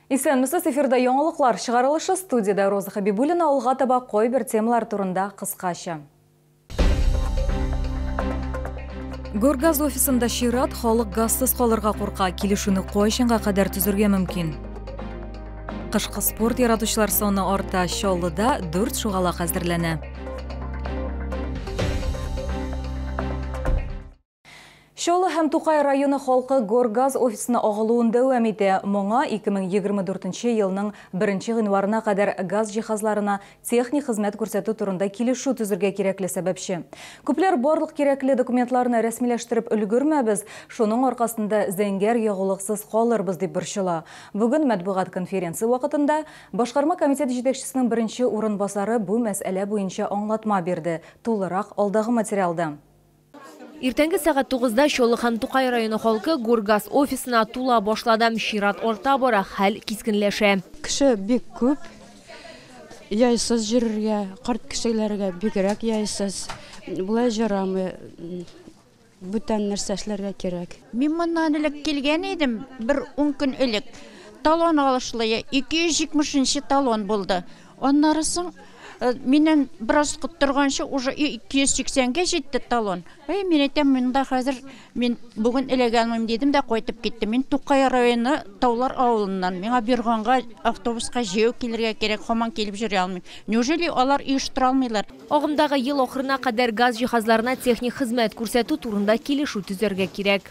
Исәнмесез, эфирда яңалыклар чыгарылышы студиядә Роза Хабибуллина алга таба кайбер темалар турында кыскача. Гөргаз офисында чират, халык газсыз калырга курка, килешүне кайчанга кадәр төзергә мөмкин? Кышкы спорт яратучылар саны арта, Чаллыда 4 шугалак әзерләнә. Чаллы һәм Тукай районы халкы Горгаз офисына агылуын дәвам итә. Моңа 2024 елның 1 гыйнварына кадәр газ җиһазларына техник хезмәт күрсәтү турында килешү төзергә кирәкле сәбәпче. Күпләр барлык кирәкле документларны рәсмиләштереп өлгермәбез, шуның аркасында зәңгәр ягулыксыз калырбыз, дип борчыла. Бүген матбугат конференция вакытында Башкарма комитет җитәкчесенең беренче урынбасары бу мәсьәлә буенча аңлатма бирде, тулырак алдагы материалда. Иртәнге сәгать тугызда Чоллы һәм Тукай районы халкы Гургаз офисына тула башлады. Чират арта бара, хәл кискенләшә. Кеше бик күп, яйсыз йөрергә, карт кешеләргә бигрәк яйсыз. Болай ярамый, бүтән нәрсә эшләргә кирәк. Мин моннан элек килгән идем, бер ун көн элек. Талон алышлые, 270 нче талон булды. Аннары соң миннән бераз торганчы уже 280 гә җитте талон. Әй, мин әйтәм, монда хәзер мин бүген эләгәнмен дидем дә кайтып киттем. Мин Тукай районы Таулар авылыннан. Миңа Бирганга автобуска җәяү килергә кирәк, хаман килеп җөри алмыйм. Неужели алар оештыра алмыйлар? Агымдагы ел ахырына кадәр газ җиһазларына техник хезмәт күрсәтү турында килешү төзәргә кирәк.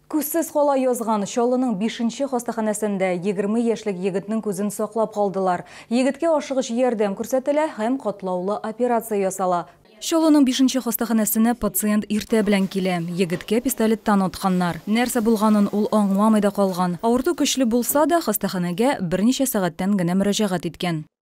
Күзсез кала язган Чаллының бишенче хастаханәсендә егерме яшьлек егетнең күзен саклап калдылар. Егеткә ашыгыч ярдәм күрсәтелә һәм катлаулы операция ясала. Чаллының бишенче хастаханәсенә пациент иртә белән килә. Егеткә пистолеттан атканнар. Нәрсә булганын ул аңламый да калган. Авырту көчле булса да, хастаханәгә берничә сәгатьтән генә мөрәҗәгать иткән.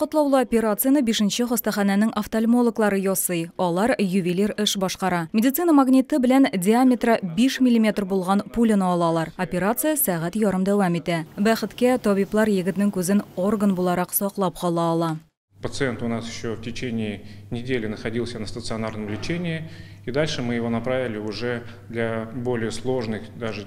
Катлаулы операцияне бишенче хастаханәнең офтальмологлары ясый. Алар ювелир эш башкара. Медицина магниты белән диаметры 5 миллиметр булган пуляны алалар. Операция сәгать ярым дәвам итә. Бәхеткә, табиблар егетнең күзен орган буларак саклап кала ала. Пациент у нас еще в течение недели находился на стационарном лечении, и дальше мы его направили уже для более сложных даже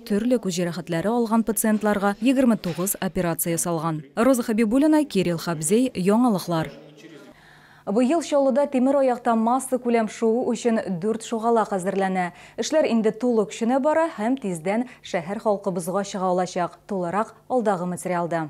Төрле күз җәрәхәтләре алган пациентларга 29 операция ясалган. Роза Хәбибуллина, Кирилл Хабзей, Яңалыклар. Быел Чаллыда тимер аякта массакүләм шуу өчен дүрт шугалак әзерләнә. Эшләр инде тулы көченә бара һәм тиздән шәһәр халкы бозга чыга алачак, тулырак алдагы материалда.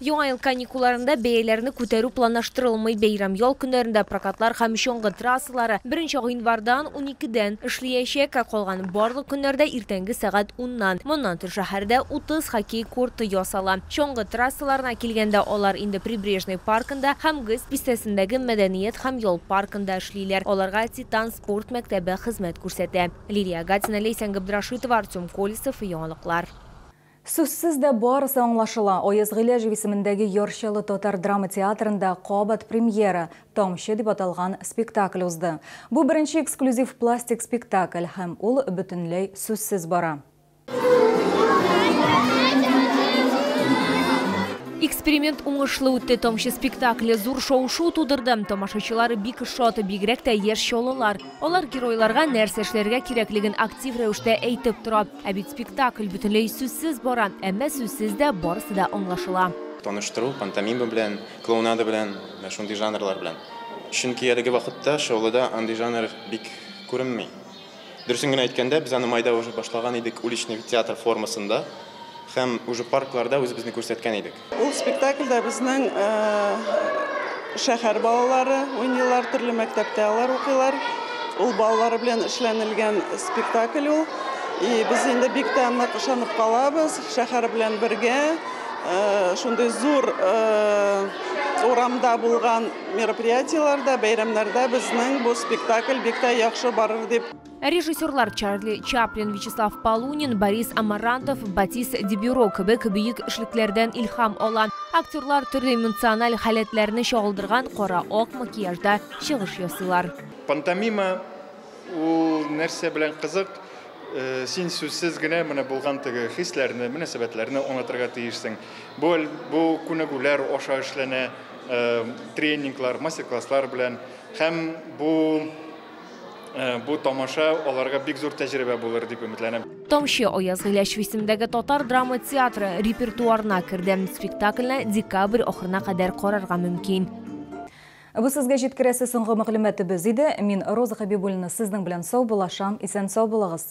Яңа ел каникулларында бәяләрне күтәрү планлаштырылмый. Бәйрәм ял көннәрендә прокатлар һәм чаңгы трассалары 1 нче гыйнвардан, 12 дән, эшлиячәк, ә калган барлык көннәрдә иртәнге сәгать 10 ннан. Моннан тыш шәһәрдә 30 хоккей корты ясала. Чаңгы трассаларына килгәндә, алар инде Прибрежный паркында һәм ГЭС бистәсендәге мәдәният һәм ял паркында эшлиләр. Аларга Титан спорт мәктәбе хезмәт күрсәтә. Лилия Агатина, Ләйсән Габдрашитова, Артем Колесов, Яңалыклар. Сүзсез дә барысы аңлашыла, Аяз Гыйләҗев исемендәге Яр Чаллы татар драма театрында кабат премьера, Тамчы дип аталган спектакль узды. Бу беренче эксклюзив пластик спектакль һәм ул бөтенләй сүзсез бара. Эксперимент уңышлы үтте, Тамчы спектакле зур шау-шу тудырды. Тамашачылар бик шат, бигрәк тә яшь чаллылар. Алар геройларга нәрсә эшләргә кирәклеген актив рәвештә әйтеп тора. Ә бит спектакль бөтенләй сүзсез бара, әмма сүзсез дә барысы да аңлашыла. Таныштыру, пантомима белән, клоунада белән, менә шундый жанрлар белән. Чөнки әлеге вакытта шоулыда андый жанр бик күренми. Дөресен генә әйткәндә, без аны майда уже башлаган идек уличный театр формасында һәм уже паркларда үзебезне күрсәткән идек. Ул спектакльдә безнең шәһәр балалары уйныйлар, төрле мәктәптә алар укыйлар. Ул балалары белән эшләнелгән спектакль ул. И без инде бик тә нык ышанып калабыз, шәһәр белән бергә шундый зур урамда булган мероприятиеләрдә, бәйрәмнәрдә безнең бу спектакль бик тә яхшы барыр дип. Ә режиссерлар Чарли Чаплин, Вячеслав Полунин, Борис Амарантов, Батис Дебюро кебек бөек эшлекләрдән илһам ала. Актерлар төрле эмоциональ халәтләрне чагылдырган кара-ак макияжда чыгыш ясыйлар. Пантомима ул нәрсә белән кызык? Э, син сүзсез генә менә булган теге хисләрне, мөнәсәбәтләрне аңлатырга тиешсең. Бу бу күнегүләр аша эшләнә, э, тренинглар, мастер-класслар белән һәм бу Бу тамаша аларга бик зур тәҗрибә булыр дип өметләнәм. Тамчы Аяз Гыйләчев исемендәге татар драма театры репертуарына керде. Спектакльне декабрь ахырына кадәр карарга мөмкин. Бу сезгә җиткерәсе соңгы мәгълүматыбыз иде. Мин Роза Хәбибуллина сезнең белән саубуллашам. Исән-сау булыгыз!